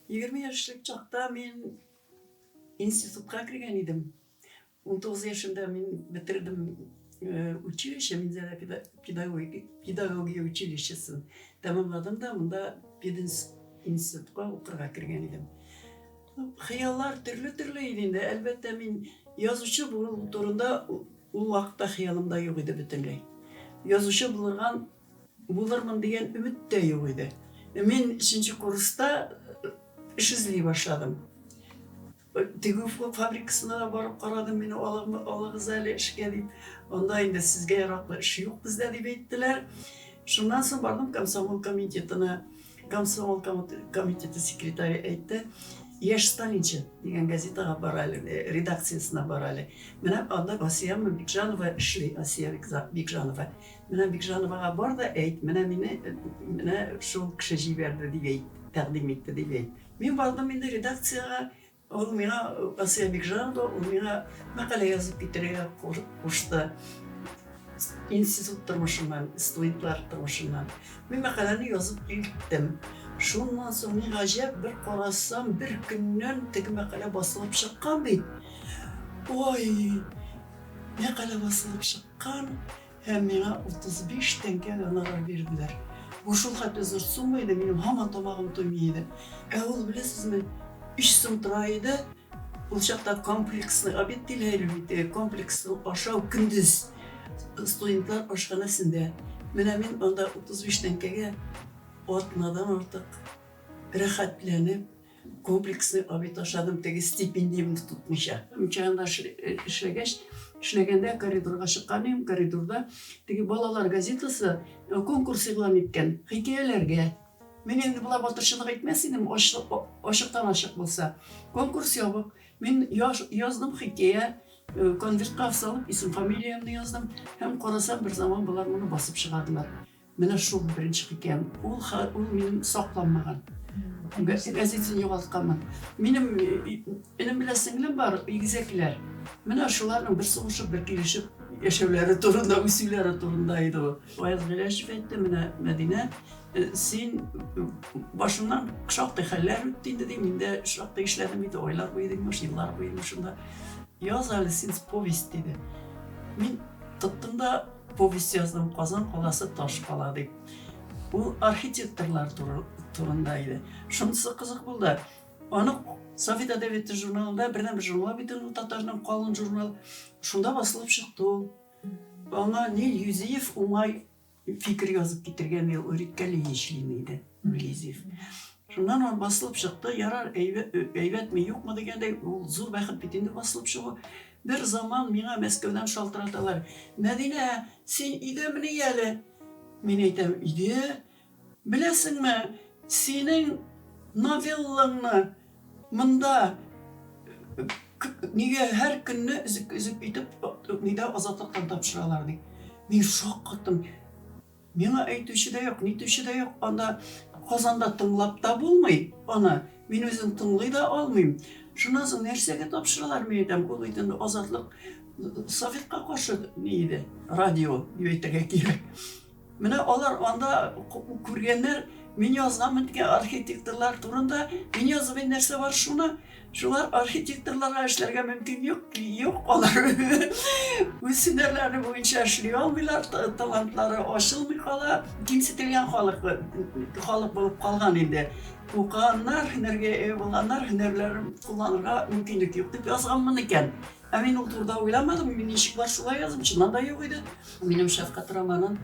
Егерме яшьлек чакта мин институтка кергән идем. 19 яшемдә мин бетердем э, училище, Минзәлә педагогия училищесын. Тәмамладым да, монда пединститутка укырга кергән идем. Хыяллар төрле-төрле иде инде. Әлбәттә, мин язучы булу турында ул вакытта хыялымда юк иде бөтенләй. Язучы булырга Булырмын дигән өмет тә юк иде. Мин өченче курста эш эзли башладым. Тегү фабрикасына да барып карадым, мине алыгыз әле эшкә дип. Анда инде сезгә яраклы эш юк бездә дип әйттеләр. Шуннан соң бардым комсомол комитетына. Комсомол комитеты секретаре әйтте, Яшь сталинчы дигән газетага бар әле, э, редакциясенә бар әле. Менә анда Асия Бикжанова эшли, Асия Бикжанова. Менә Бикжановага бар да әйт, менә мине менә шул кеше җибәрде дип әйт, тәкъдим итте дип әйт. Мин бардым инде редакциягә, ул миңа, Асия Бикжанова, ул миңа мәкалә язып китерергә кушты. Институт тормышыннан, студентлар тормышыннан. Мин мәкаләне язып киттем. Шуннан соң ни гаҗәп, бер карасам, бер көннән теге мәкалә басылып чыккан бит. Ой, мәкалә басылып чыккан. Һәм миңа 35 тәңкә гонорар бирделәр. Бу шулхәтле зур сумма иде, минем һаман тамагым туймый иде. Ә ул, беләсезме, өч сум тора иде. Ул чакта комплексный обед диләр әле бит, э, комплексный ашау көндез студентлар ашханәсендә. Менә мин анда 35 тәңкәгә атнадан артык рәхәтләнеп, Комплексный обед ашадым, теге стипендиямне тотмыйча. Мчанада эшләгәч, эшләгәндә коридорга чыккан идем, коридорда теге балалар газетасы э, конкурс игълан иткән, хикәяләргә. Мин инде болай батырчылык итмәс идем, ачыктан ачык булса. Конкурс ябык. Мин яздым хикәя, э, конвертка салып, исем-фамилиямне яздым һәм карасам, бер заман болар моны басып чыгардылар. Менә шул беренче хикәям. Ул, ул минем сакланмаган. Газетен югалтканмын. Минем энем белән сеңлем бар, игезәкләр. Менә шуларның бер сугышып, бер килешеп яшәүләре турында, үсүләре турында иде ул. Ваяз Гыйләшев әйтте, менә Мәдинә, син башыннан шактый хәлләр үтте инде, ди, мин дә шактый эшләдем иде, айлар буе дигән, еллар буе шунда. Яз әле син повесть диде. Мин тоттым да Повесть яздым Казан каласы таш кала дип. Ул архитекторлар турында иде. Шунысы кызык булды. Аны Совет әдәбияты журналында бердән бер журнал бит ул татарның калын журнал. Шунда басылып чыкты ул. Аңа Нил Юзиев уңай фикер язып китергән ел Өриккәли Ешлин иде. Юзиев. Шуннан ул басылып чыкты, ярар, әйбәтме, юкмы дигәндәй, ул зур бәхет бит инде басылып чыгу. Бер заман миңа Мәскәүдән шалтыраталар, Мәдинә, син өйдәмени әле? Мин әйтәм, өйдә. Беләсеңме, синең новеллаңны монда нигә һәр көнне өзек-өзек итеп, нидә, Азатлыктан тапшыралар, ди. Мин шаккаттым. Миңа әйтүче дә юк, нитүче дә юк, анда Казанда тыңлап та булмый аны, мин үзем тыңлый да алмыйм. Шуннан соң нәрсәгә тапшыралар, мин әйтәм, ул бит инде Азатлык Советка каршы ни иде, радио дип әйтергә кирәк. Менә алар анда күргәннәр, мин язганмын дигән архитекторлар турында, мин язып нәрсә бар шуны, Шуңа архитекторларга эшләргә мөмкин юк, юк, алар үз һөнәрләре буенча эшли алмыйлар, талантлары ачылмый кала, кимсетелгән халык, халык булып калган инде. Укыганнар, һөнәргә ие булганнар, һөнәрләрен кулланырга мөмкинлек юк дип язганмын икән. Ә мин ул турыда уйламадым, мин ничек бар шулай яздым, чыннан да юк иде. Минем шәфкать романын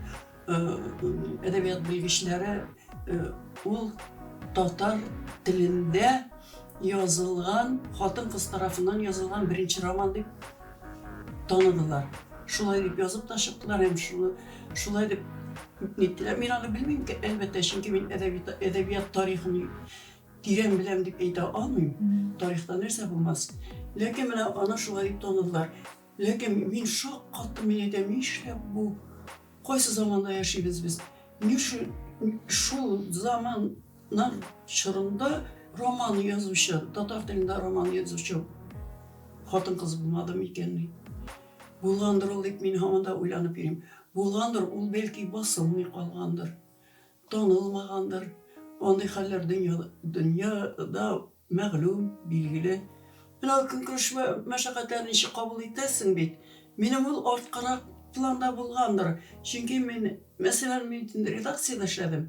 әдәбият белгечләре ул татар телендә язылган, хатын-кыз тарафыннан язылган беренче роман дип таныдылар. Шулай дип язып та чыктылар һәм шулай, шулай дип ниттеләр. Мин аны белмим, әлбәттә, чөнки мин әдәбият, әдәбият тарихын тирән беләм дип әйтә алмыйм. Тарихта нәрсә булмас. Ләкин менә аны шулай дип таныдылар. Ләкин мин шаккаттым, әйдә, нишләп бу? Кайсы заманда яшибез без? Ни өчен шул заманнар чорында роман язучы, татар телендә роман язучы хатын-кыз булмады микәнни? Булгандыр ул, дип мин һаман да уйланып йөрим. Булгандыр, ул бәлки басылмый калгандыр. Танылмагандыр. Андый хәлләр дөньяда дөньяда мәгълүм, билгеле. Менә ул көнкүреш мәшәкатьләрен ничек кабул итәсең бит. Минем ул арткарак планда булгандыр. Чөнки мин, мәсәлән, мин инде редакциядә эшләдем.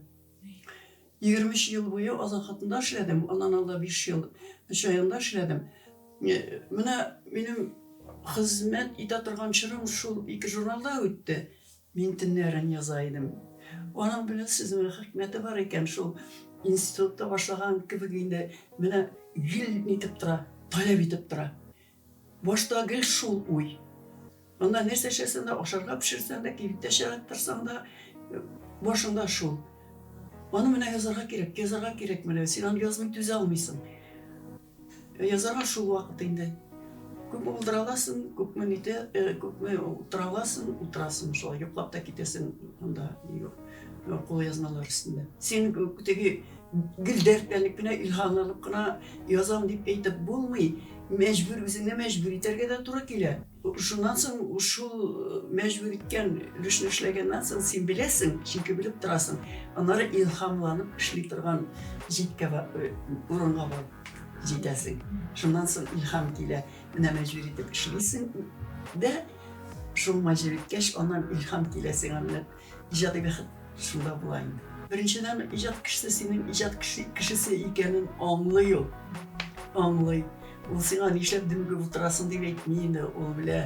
Егерме өч ел буе Азат хатында эшләдем, аннан алда биш ел Чаянда эшләдем. Менә минем хезмәт итә торган чорым шул ике журналда үтте. Мин төннәрен яза идем. Аның белән сүзнең хикмәте бар икән шул. Институтта башлаган кебек инде менә гел нитеп тора, таләп итеп тора. Башта гел шул уй. Аннан нәрсә эшләсәң дә, ашарга пешерсәң дә, кибеттә чыгып торсаң да, башыңда шул. Аны менә язарга кирәк, язарга кирәк менә, син аны язмый түзә алмыйсың. Язарга шул вакыт инде. Күп булдыра аласың, күпме нитә, күпме утыра аласың, утырасың шулай, йоклап та китәсең анда кулъязмалар өстендә. Син теге гел дәртләнеп кенә, илһам алып кына язам дип әйтеп булмый, мәҗбүр, үзеңне мәҗбүр итәргә дә туры килә. Шуннан соң шул мәҗбүр иткән өлешне эшләгәннән соң син беләсең, чөнки белеп торасың. Аннары илһамланып эшли торган җиткә урынга барып җитәсең. Шуннан соң илһам килә. Менә мәҗбүр итеп эшлисең дә, шул мәҗбүр иткәч, аннан илһам килә сиңа. Иҗади бәхет шунда була инде. Беренчедән, иҗат кешесе синең иҗат кешесе икәнен аңлый ул. Аңлый. Ул сиңа нишләп дөмегеп утырасың дип әйтми инде, ул белә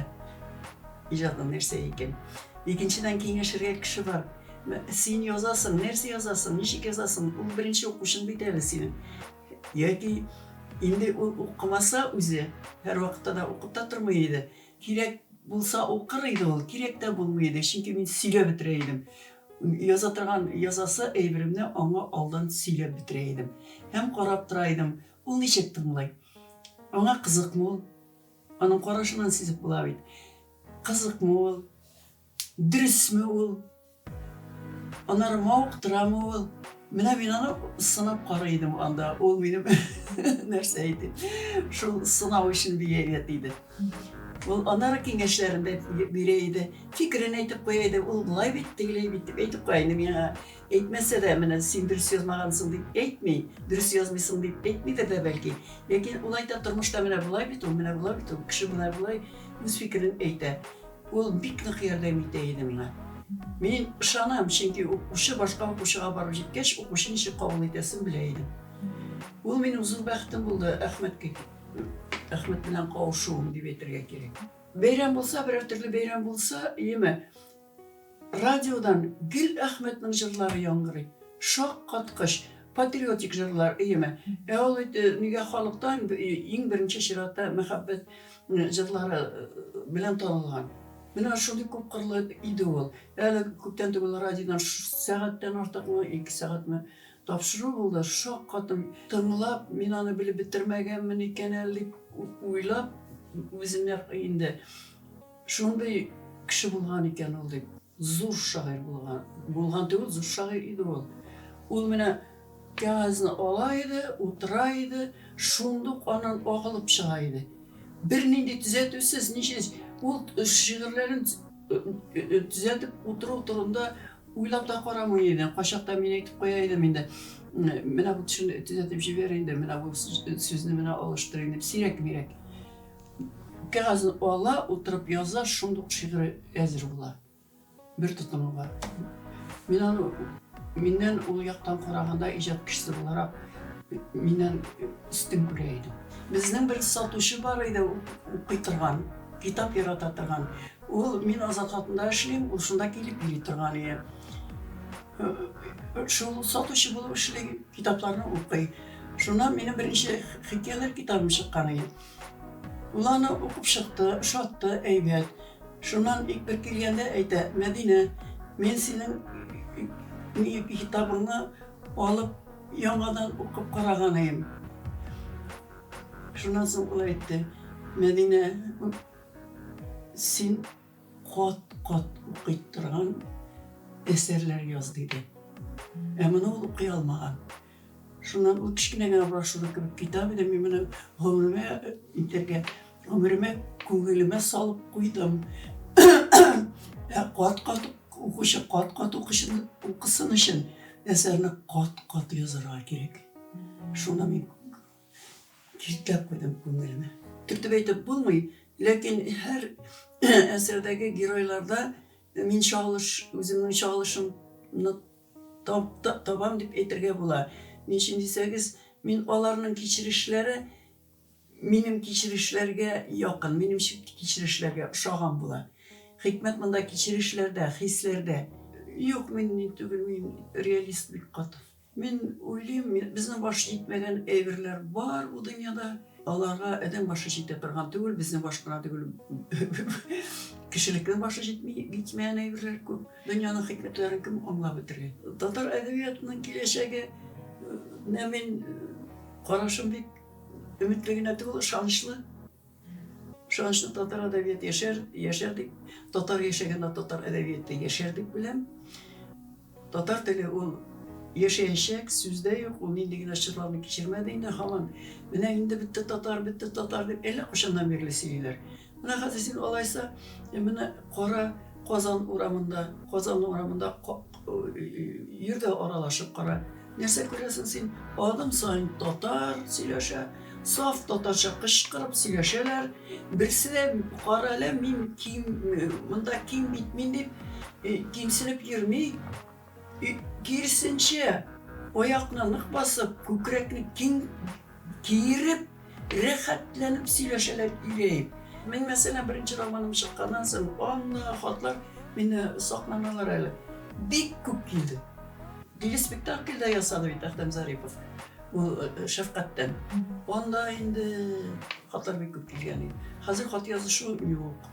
иҗатның нәрсә икән. Икенчедән, киңәшергә кеше бар. Син язасың, нәрсә язасың, ничек язасың? Ул беренче укучың бит әле синең. Яки инде ул укымаса үзе, һәрвакытта да укып та тормый иде. Кирәк булса укыр иде ул, кирәк тә булмый иде, чөнки мин сөйләп бетерә идем. Яза торган язасы әйберемне аңа алдан сөйләп бетерә идем. Һәм карап тора идем, ул ничек тыңлый. Аңа кызыкмы ул? Аның карашыннан сизеп була бит. Кызыкмы ул? Дөресме ул? Аннары мавыктырамы ул? Менә мин аны сынап карый идем анда. Ул минем нәрсә иде? Шул сынау өчен биялет иде. Ул аннары киңәшләрен дә бирә иде. Фикерен әйтеп куя иде. Ул болай бит, тегеләй бит дип әйтеп куя инде миңа. Әйтмәсә дә, менә син дөрес язмагансың дип әйтми, дөрес язмыйсың дип әйтмидер дә бәлки. Ләкин ул әйтә тормышта менә болай бит ул, менә болай бит ул, кеше менә болай үз фикерен әйтә. Ул бик нык ярдәм итә иде миңа. Мин ышанам, чөнки укучы башка укучыга барып җиткәч, укучы ничек кабул итәсен белә идем. Ул минем зур бәхетем булды, Әхмәткә Әхмәт белән кавышуым дип әйтергә кирәк. Бәйрәм булса, берәр төрле бәйрәм булса, яме. Радиодан гел Әхмәтнең җырлары яңгырый. Шаккаткыч, патриотик җырлар өеме. Ә ул бит нигә халыктан иң беренче чиратта мәхәббәт җырлары белән танылган. Менә шундый күпкырлы иде ул. Әле күптән түгел радиодан сәгатьтән артыкмы, ике сәгатьме тапшыру булды. Шаккаттым. Тыңлап, мин аны белеп бетермәгәнмен икән әле дип уйлап, үземә инде. Шундый кеше булган икән ул, дип. Зур шагыйрь булган. Булган түгел, зур шагыйрь иде ул. Ул менә кәгазьне ала иде, утыра иде, шундук аннан агылып чыга иде. Бернинди төзәтүсез, ничез, ул шигырьләрен төзәтеп утыру турында уйлап та карамый иде. Кайчакта мин әйтеп куя идем инде, менә бу төшенде, төзәтеп җибәр инде, менә бу сүзне менә алыштыр инде, сирәк-мирәк. Кәгазьне ала, утырып яза, шундук ук шигыре әзер була. Бер тотымы бар. Мин аны миннән ул яктан караганда иҗат кешесе буларак миннән өстен күрә идем. Безнең бер сатучы бар иде, укый торган, китап ярата торган. Ул мин Азат хатында эшлим, ул шунда килеп йөри торган иде. Шул сатучы булып эшли, китапларны укый. Шуннан минем беренче хикәяләр китабым чыккан иде. Ул аны укып чыкты, ошатты, әйбәт. Шуннан ик бер килгәндә әйтә, Мәдинә, мин синең китабыңны алып, яңадан укып караганыем. Шуннан соң ул әйтте, Мәдинә, син кат-кат укый торган әсәрләр яз, диде. Ә моны ул укый алмаган. Шуннан ул кечкенә генә брошюра кебек китап иде, мин моны гомеремә итәргә, гомеремә, күңелемә салып куйдым. Ә кат-кат укучы, кат-кат укучы укысын өчен әсәрне кат-кат язарга кирәк. Шуны мин киртләп куйдым күңелемә. Төртеп әйтеп булмый, ләкин һәр әсәрдәге геройларда мин чагылыш, үземнең чагылышымны Табам дип әйтергә була. Ни өчен дисәгез, мин аларның кичерешләре минем кичерешләргә якын, минем кичерешләргә ошаган була. Хикмәт монда кичерешләрдә, хисләрдә. Юк, мин ни түгел, мин реалист бик каты. Мин уйлыйм, безнең баш җитмәгән әйберләр бар бу дөньяда. Аларга адәм башы җитә торган түгел, безнең баш кына түгел, кешелекнең башы җитми, җитмәгән әйберләр күп. Дөньяның хикмәтләрен кем аңлап бетергән? Татар әдәбиятының киләчәге нә мин карашым бик өметле генә түгел, ышанычлы. Ышанычлы татар әдәбият яшәр, яшәр дип, татар яшәгәндә татар әдәбияты яшәр дип беләм. Татар теле ул яшәячәк, сүздә юк, ул нинди генә чорларны кичермәде инде, һаман менә инде бетте татар, бетте татар дип әллә кайчаннан бирле сөйлиләр. Менә хәзер син алайса, менә кара Казан урамында, Казан урамында йөр дә аралашып кара. Нәрсә күрәсең син? Адым саен татар сөйләшә, саф татарча кычкырып сөйләшәләр. Берсе дә кара әле мин ким, монда ким бит мин дип кимсенеп йөрми. Киресенчә, аякны нык басып, күкрәкне киң киереп, рәхәтләнеп сөйләшәләр ирееп. Мин, мәсәлән, беренче романым чыкканнан соң, анна хатлар мине сакламыйлар әле. Бик күп килде. Диле спектакль дә ясады бит Әхтәм Зарипов. Ул э, шәфкатьтән. Анда инде хатлар бик күп килгән иде. Хәзер хат язышу юк.